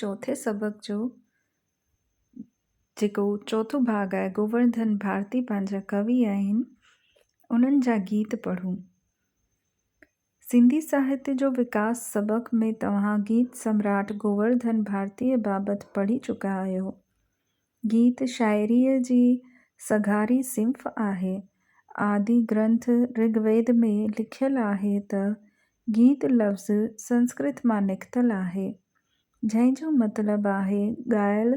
چوٿين سبق جو جيڪو چوٿون ڀاڳ آهي گوورڌن ڀارتي پنهنجا ڪوي آهن انهن جا گيت پڙهون سنڌي ساهتي جو وڪاس سبق ۾ توهان گيت سمراٽ گوورڌن ڀارتي بابت پڙهي چڪا آهيو گيت شاعريء جي سگهاري صنف آهي. آدي گرنٿ رگ ويد ۾ لکيل آهي ته، گيت لفظ سنسڪرت مان نڪتل آهي، جنهن جو مطلب آهي ڳايل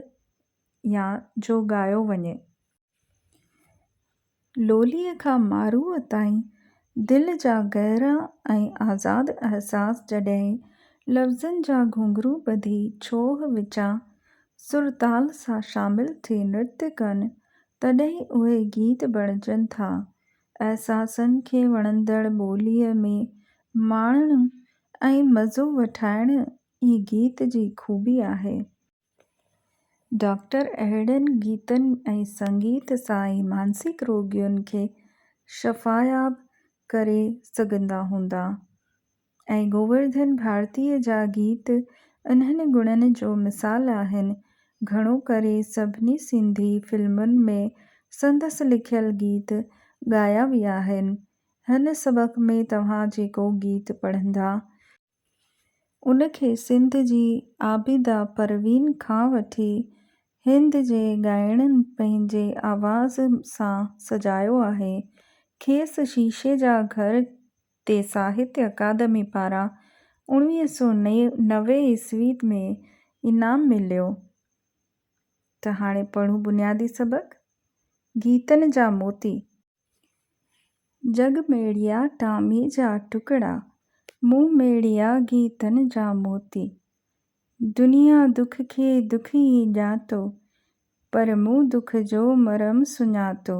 يا جو ڳايو وڃي. لوليء کان ماروء تائين دل جا گهرا ۽ آزاد احساس جڏهن لفظن جا گهنگهرو ٻڌي ڇوهه وچان سر تال سان شامل ٿي نرتيا ڪن تڏهن اهي گيت بڻجن ٿا. احساسن کي وڻندڙ ٻوليء ۾ ماڻڻ ۽ مزو وٺائڻ ئي گيت جي خوبي آهي. ڊاڪٽر اهڙن گيتن ۽ سنگيت سان ئي مانسڪ روڳين کي شفاياب ڪري سگهندا هوندا ۽ گوورڌن ڀارتيء جا گيت انهن گڻن جو مثال آهن. گهڻو ڪري سڀني سنڌي فلمن ۾ سندس لکيل گيت ڳايا ويا آهن. هن سبق ۾ توهان جيڪو گيت پڙهندا، ان کي سنڌ جي عابده پروين کان وٺي هند جي ڳائڻن پنهنجي آواز سان سجايو آهي. کيس شيشي جا گهر تي ساهتيه اڪادمي پاران اڻويهه سؤ نوي عيسوي ۾ انعام مليو. ته هاڻي پڙهون بنيادي سبق، گيتن جا موتي. جڳ ميڙيا ٽامي جا ٽڪڙا، مون ميڙيا گيتن جا موتي. دنيا دک کي دک ئي ڄاتو، پر مون دک جو مرهم سڃاتو.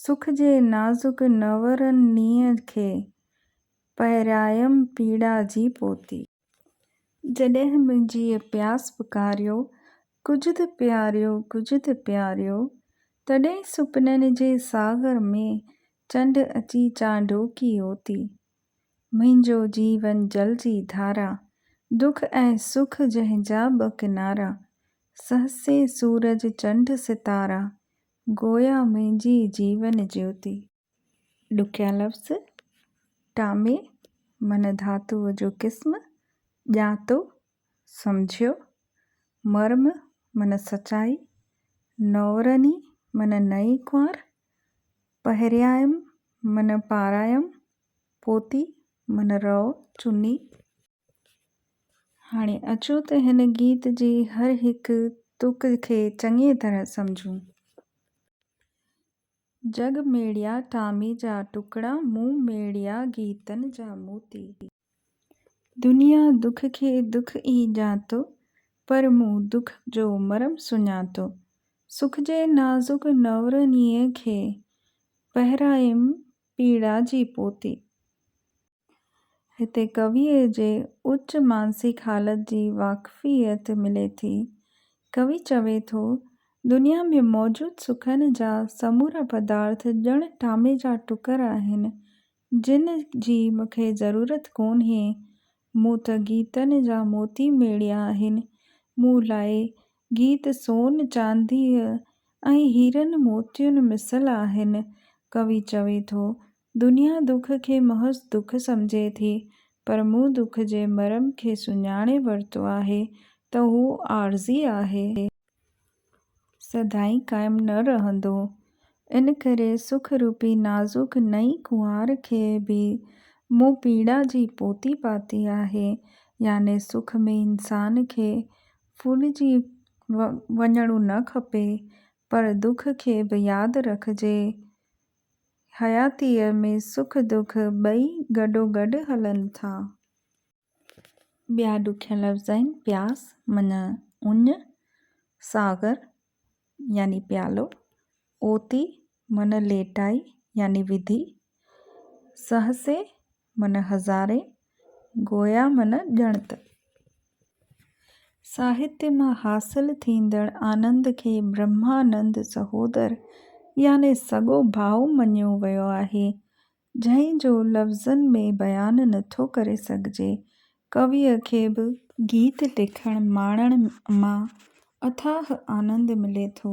سک جي نازڪ نؤرنيء کي، پهرايم پيڙا جي پوتي. جڏهن منهنجيء پياس پڪاريو، ڪجهه ته پياريو، ڪجهه ته پياريو، تڏهن سپنن جي ساغر ۾ چنڊ اچي چانڊوڪي اوتي. منهنجو جيون جل جي ڌارا، دک ۽ سک جنهن جا ٻه ڪنارا، سهسي سورج چنڊ ستارا، گويا منهنجي جيون جيوتي. ڏکيا لفظ، ٽامي من ڌاتوء جو قسم، ڄاتو، سمجهيو، مرم من سچائي، نورني من نئين ڪنوار، پهريائم من پارايم، پوتي من رئو چني. هاڻي اچو ته هن گيت جي هر هڪ تڪ کي چڱيء طرح سمجهون. جڳ ميڙيا ٽامي جا ٽڪڙا، مون ميڙيا گيتن جا موتي. دنيا دک کي دک ئي ڄاتو، پر مون دک جو مرم سڃاتو. سک جي نازڪ نورنيء کي، پهرايم پيڙا جي پوتي. هتي ڪويء جي اچ مانسڪ حالت جي واقفيت ملي ٿي. ڪوي چوي ٿو، دنيا ۾ موجود سکن جا سمورا پدارٿ ڄڻ ٽامي جا ٽڪر آهن، جن جي مون کي ضرورت ڪونهي. مون ته گيتن جا موتي ميڙيا آهن. مون لاء گيت سون، چانديء ۽ هيرن موتين مثل آهن. ڪوي چوي ٿو، دنيا دک کي محض دک سمجهي ٿي، پر مون دک جي مرم کي سڃاڻي ورتو آهي ته هو عارضي آهي. سدائين قائم نه رهندو. ان ڪري سک روپي نازڪ نئين ڪنوار کي به مون پيڙا جي پوتي پاتي آهي، يعني سک ۾ انسان کي ڦولجي وڃڻو نه کپي، پر دک کي به ياد رکجي حياتيء ۾ سک دک ٻئي گڏوگڏ هلن ٿا. ٻيا ڏکيا لفظ آهن، پياس معنيٰ اڃ، ساغر يعني پيالو، اوتي معنيٰ ليٽائي يعني وڌي، سهسي من هزارين، گويا من ڄڻت. ساهتيه مان حاصل ٿيندڙ آنند کي برهمانند سهودر يعني سڳو ڀاء مڃيو ويو آهي، جنهن جو لفظن ۾ بيان نه ٿو ڪري سگهجي. ڪويء کي به. گيت لکڻ ماڻڻ مان اٿاهه آنند ملي ٿو.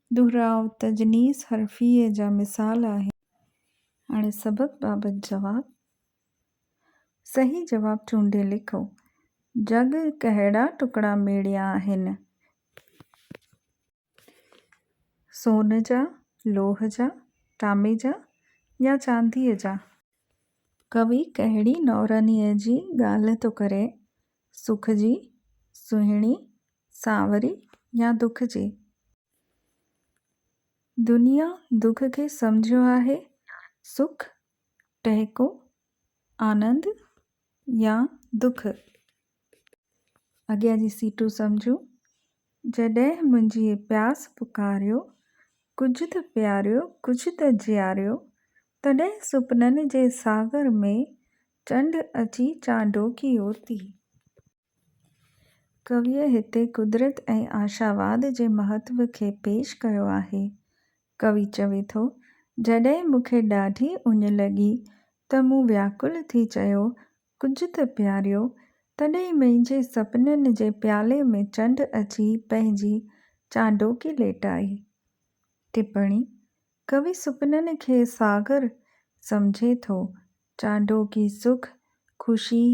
دهراء تجنيس حرفيه جا مثال آهن. هاڻي سبب بابت جواب. صحيح جواب چونڊي لکو. جڳ ڪهڙا ٽڪڙا ميڙيا آهن؟ سون جا، لوهه جا، تانبي جا يا چانديء جا؟ ڪوي ڪهڙي نورانيء جي ڳالهه ٿو ڪري، سک جي، سهڻي، سانوري يا دک جي؟ دنيا دک کي سمجهيو آهي، سک، ٽهڪو، آنند يا دک؟ اڳيان جي سيٽون سمجهون، جڏهن منهنجي پياس پڪاريو، ڪجهه ته پياريو، ڪجهه ته جياريو، تڏهن سپنن جي ساغر ۾ چنڊ اچي چانڊوڪي اوتي. ڪويء هتي قدرت ۽ آشاواد جي مهتو کي پيش ڪيو آهي. ڪوي چوي ٿو، جڏهن مون کي ڏاڍي اڃ لڳي ته مون وياڪل ٿي چيو، ڪجهه ته پياريو، تڏهن منهنجي سپنن جي پيالي ۾ چنڊ اچي پنهنجي چانڊوڪي ليٽائي. ٽپڻي، ڪوي سپنن کي ساگر سمجهي ٿو. چانڊوڪي سک، خوشي،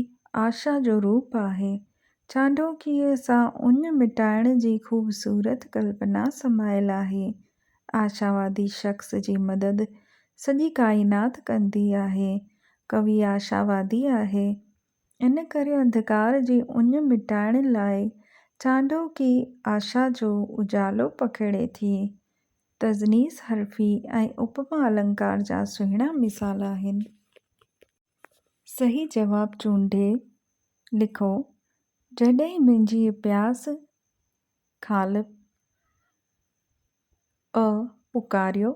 آشا جو روپ آهي. چانڊوڪيء سان اڃ مٽائڻ جي خوبصورت ڪلپنا سمايل آهي. آشاوادي شخص جي مدد سڄي ڪائنات ڪندي آهي. ڪوي آشاوادي آهي. ان ڪري انڌڪار جي اڃ مٽائڻ لاء چانڊوڪي آشا جو اجالو پکيڙي ٿي. تضنيس حرفي ۽ اپما النڪار جا سهڻا مثال آهن. صحيح جواب چونڊي لکو، جڏهن منهنجي پياس خالق ٻه پڪاريو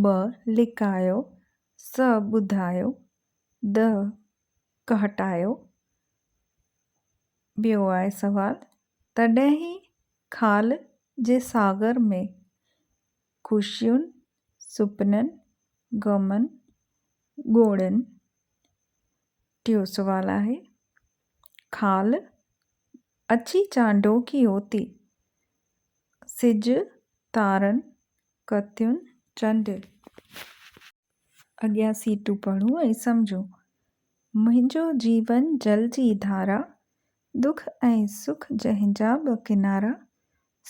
ٻه لڪايو سه ٻڌايو ڏه ڪهٽايو ٻيو آهي سوال تڏهن ئي خال جي ساگر ۾ خوشين سپنن غمن ڳوڙهين ٽيو سوال آهي خال اچي چانڊو ڪيو تي. سج تارن ڪتيون چنڊ. اڳيان سيٽون پڙهون ۽ سمجهون. منهنجو جيون جل جي ڌارا. دک ۽ سک جنهن جا ٻه ڪنارا.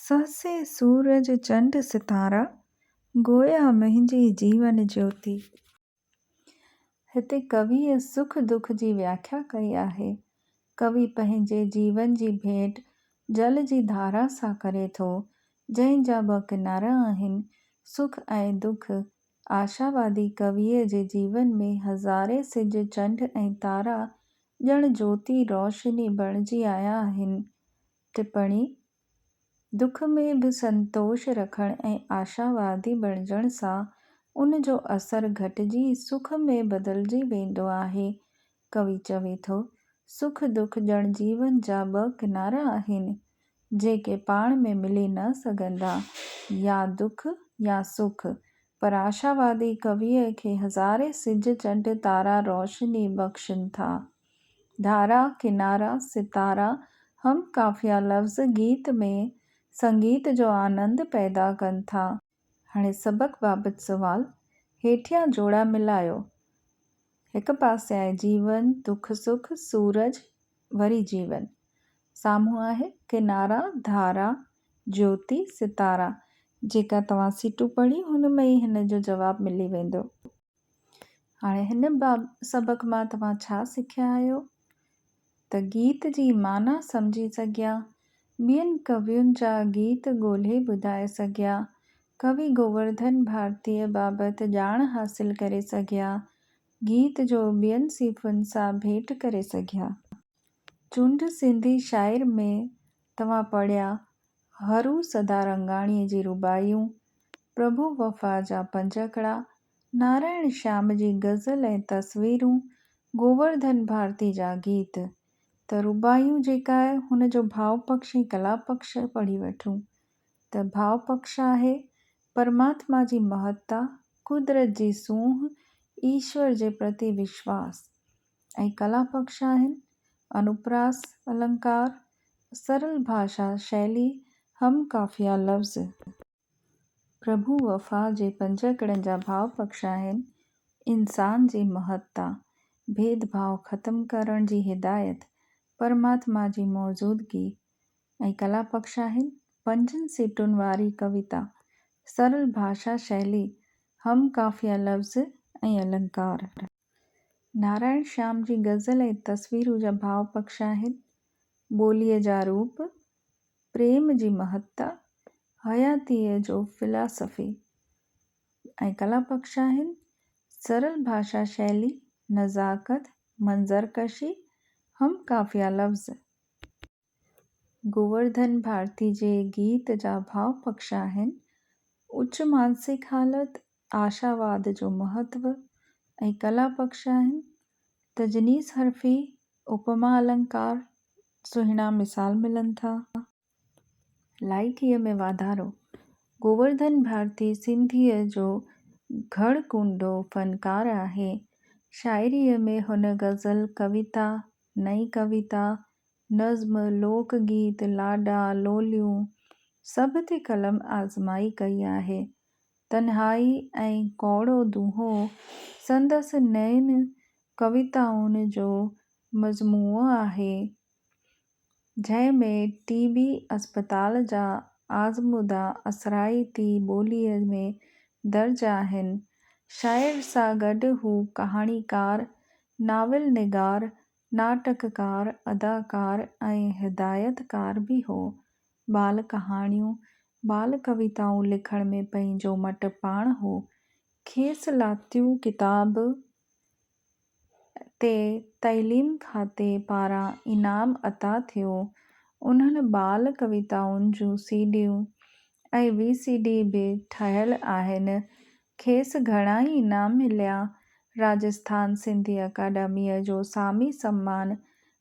سهسي سورج چنڊ ستارا. گويا منهنجي جيون جيوتي. هتي ڪويء سک دک جي وياکيا ڪئي آهي. ڪوي پنهنجي جيون جي ڀيٽ جل جي ڌارا سان ڪري ٿو، جنهن جا ٻه ڪنارا آهن، سک ۽ دک. آشاوادي ڪويء جي جيون ۾ هزارين سج، چنڊ ۽ تارا ڄڻ جوتي، روشني، بڻجي آيا آهن. ٽپڻي، دک ۾ به سنتوش رکڻ ۽ آشاوادي بڻجڻ سان ان جو اثر گهٽجي سک ۾ بدلجي ويندو آهي. ڪوي چوي ٿو، سک دک ڄڻ جيون جا ٻه ڪنارا آهن، جيڪي پاڻ ۾ ملي نه سگهندا، يا دک يا سک. پر آشاوادي ڪويء کي هزارين سج چنڊ تارا روشني بخشن ٿا. ڌارا ڪنارا ستارا هم قافيه لفظ گيت ۾ سنگيت جو آنند پيدا ڪن ٿا. هاڻي سبق بابت سوال هيٺيان جوڙا ملايو. هڪ پاسي آهي جيون، دک سک، سورج، وري جيون. سامهون آهي ڪنارا، ڌارا، جيوتي، ستارا. جيڪا توهان سيٽون پڙهيون هن ۾ ئي هن جو جواب ملي ويندو. هاڻي هن سبق مان توهان ڇا سکيا آهيو ته گيت جي معنيٰ سمجهي سگهيا، ٻين ڪوين جا گيت ڳولهي ٻڌائي سگهيا، ڪوي گوورڌن ڀارتيء بابت ڄاڻ حاصل ڪري سگهيا، گيت جو ٻين صنفن سان ڀيٽ ڪري سگهيا. چونڊ سنڌي شاعر ۾ توهان پڙهيا هرو سدارنگاڻيء جي رباعيون، پرڀو وفا جا پنج اکڙا، نارائڻ شيام جي غزل ۽ تصويرون، گوورڌن ڀارتي جا گيت ته رباعيون جيڪا آهي هن جو ڀاء پکش ۽ ڪلا پکش پڙهي وٺون ته ڀاء پکش آهي پرماتما جي مهتا، قدرت جي سونهن، ايشور جي پرتي وشواس ۽ ڪلا پکش آهن انوپراس النڪار، سرل ڀاشا شيلي هم قافيه لفظ. پرڀو وفا جي پنج ڪڙن جا ڀاء پکش آهن، انسان جي مهتتا، ڀيد ڀاء ختم ڪرڻ جي هدايت، پرماتما جي موجودگي ۽ ڪلا پکش آهن. پنجن سٽن واري ڪويتا، سرل ڀاشا شيلي، هم قافيه لفظ ۽ النڪار. نارائڻ شيام جي غزل ۽ تصويرون جا ڀاء پڪش آهن، ٻوليء جا روپ، پريم جي مهتا، حياتيء جو فلاسفي ۽ ڪلا پڪش آهن، سرل ڀاشا شيلي، نزاڪت، منظر ڪشي، هم قافيه لفظ. گوورڌن ڀارتي جي گيت جا ڀاء پکش آهن. اچ مانسڪ حالت، آشاواد جو مهتو ۽ ڪلا پکش آهن. تجنيس حرفي، اپما النڪار سهڻا مثال ملن ٿا. لائقيء ۾ واڌارو، گوورڌن ڀارتي سنڌيء جو گهڙ ڪونڊو فنڪار آهي. شاعريء ۾ هن غزل، ڪويتا، نئين ڪويتا، نظم، لوڪ گيت، لاڏا، لوليون سڀ تي قلم آزمائي ڪئي آهي. تنهائي ۽ ڪوڙو دونهو سندس نين ڪويتائن جو مجموعو آهي، جنهن ۾ ٽي بي اسپتال جا آزمودا اثرائتي ٻوليء ۾ درج آهن. شاعر سان گڏ هو ڪهاڻيڪار، ناول نگار، ناٽڪڪار، اداڪار ۽ هدايتڪار به هو. ٻال ڪهاڻيون، ٻال ڪويتائون لکڻ ۾ پنهنجو مٽ پاڻ هو. کيس لاتيون ڪتاب تي تعليم کاتي پاران انعام عطا ٿيو. انهن ٻال ڪويتائن جون سي ڊيون ۽ وي سي ڊي به ٺهيل آهن. کيس گهڻا ئي انعام مليا. راجسٿان سنڌي اڪاڊميء جو سامي سمان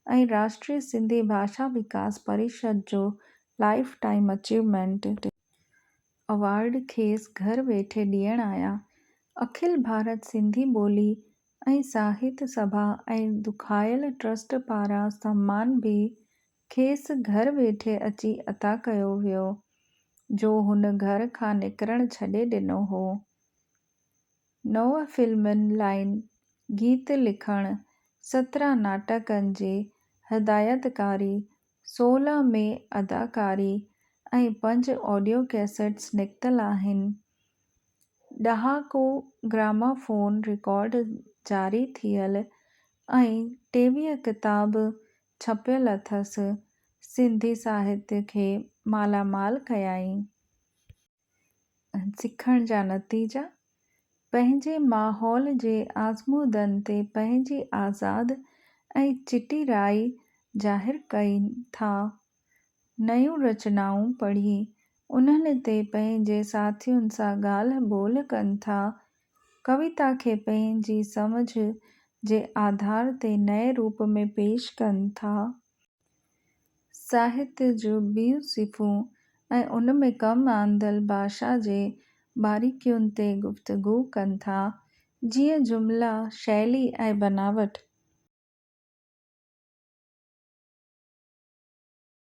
۽ راشٽري سنڌي ڀاشا وڪاس پريشد جو لائيف ٽائيم اچيومينٽ اوارڊ کيس گهر ويٺي ڏيڻ آيا. اکل ڀارت سنڌي ٻولي ۽ ساهت سڀا ۽ دکايل ٽرسٽ پاران سمان به کيس گهر ويٺي اچي عطا ڪيو ويو، جو هن گهر کان نڪرڻ ڇڏي ڏنو هو. نو فلمن لائين گيت لکڻ، سترهن ناٽڪن جي هدايتڪاري، سولهه ۾ اداڪاري ۽ پنج آڊيو ڪيسٽس نڪتل آهن. ڏهاڪو گرامافون رڪارڊ جاري ٿيل ۽ ٽيويهه ڪتاب ڇپيل اٿس، سنڌي ساهتيه کي مالا مال ڪيائين. سکڻ جا نتيجا، پنهنجي ماحول جي آزمودن تي پنهنجي آزاد ۽ چٽي راء ظاهر ڪين ٿا. نيون رچنائون پڙهي، انهن تي پنهنجي ساٿين سان ڳالهه ٻولهه ڪن ٿا ڪويتا کي پنهنجي سمجهه جي آڌار تي نئين روپ ۾ پيش ڪن ٿا. ساهت جون ٻيون صفون ۽ ان ۾ ڪم آندل ڀاشا جي باريڪين تي گفتگو ڪن ٿا، جيئن جملا، شيلي ۽ بناوٽ.